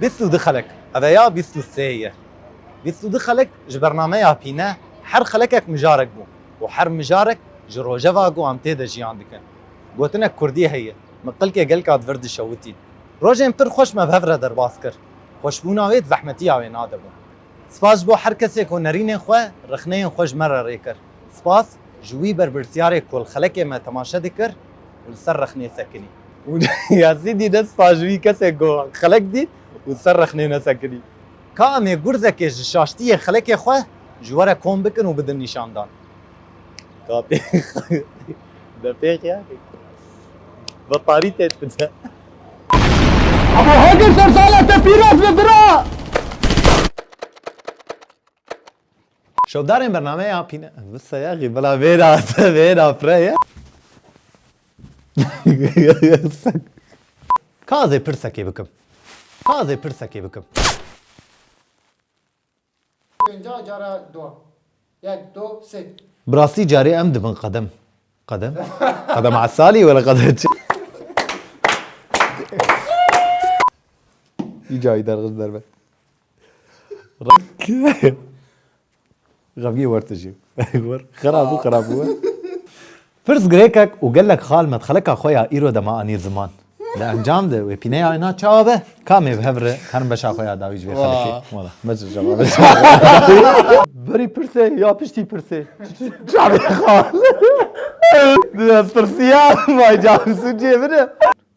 Bîst û du xelek, ev ê ya bîst û sê ye. Bîst û du xelek ji bernameya pîne her xelekek mijarek bû û her mijarek ji rojeva ku em tê de jiyan dikin. Gotinek kurdî heye, min qilkê gelka di vir dişewitî. Rojên pir xweş me bi hev re derbas kir. Xweşbûna wê di zehmetiya wê nade bû. Spas ji bo her kesê ku nerînên xwe, rexneyên xwe ji me re rê kir. Spas ji wî berpirsyarê ku li xelekê me temaşe dikir û li ser rexnê sekinî. Yazîdî ne spas ji wî kesê ku xelek dît û li ser rexnê nesekinî. Ka em ê gurzekê ji şaştiyê xelekê xwe ji we re kom bikin û bidin nîşandan. Ka pêxî betarî tê dide. Abo Hagir sersala te pîroz be bira. Şodarên bernameya pîne Vseye xî bila vêra se vêra pire ye. Ka zê pirsekê bikim Ka zê pirsekê bikim. Pênca cara do Yek do sê. Bi rastî carê em dibin qedem qedem qedem esalî were qedem çi. Î cayî derxist derve. Xemgîn wer tu jî wer xerab û xerab û wer. Pirs girêkek û gelek xal me di xelika xwe ya îro de ma anî ziman. Di encam de wê pîneya wê na çawa be? Kamê bi hev re herin beşa xwe ya dawî ji vê xelkê? Wala me ji cevabê re dixwînim. Berî pirsê ya piştî pirsê? Çavê xal. Dê ez pirsiyam, ma ca bi sûcê min e.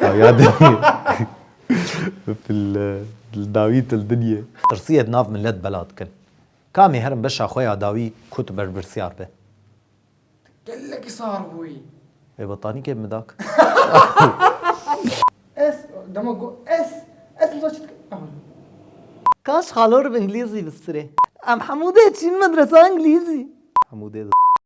Dawîya dinyê li dawî til dinyê. Tirsiyê di nav milet bela dikin. Ka mêherim beşa xwe ya dawî ku tu berpirsyar be. Tu gelekî sar bûyî. Wê betanîkê bidak. Ez dema got ez ez dima çi dikim ew in. Kaş xalo rib îngilîzî bistirê. Em hemû dê çîn medresa îngilîzî. Hemû dê di.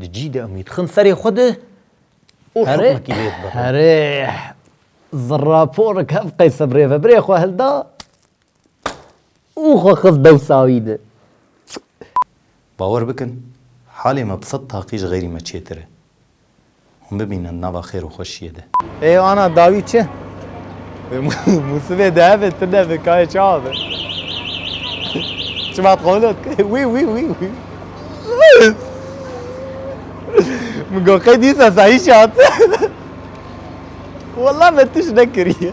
Di cî de em wî dixin serê xwe de û hikmekî lê dibirin. Herê ziraporik hev qeyse bi rêveberê xwe hilda û xwe xist dewsa wî de. Bawer bikin, halê me bi sed taqî ji xeyrî me çêtir e. Hûn bimînin nava xêr û xweşiyê de. Ê ana dawî çi? Vê mûsimê di hevê tu nebe kayê çawa be. Çivat qewlo dike. Wî wî wî wî. Min got qey dîsa sahîşê hate. Wela me tişt nekiriye.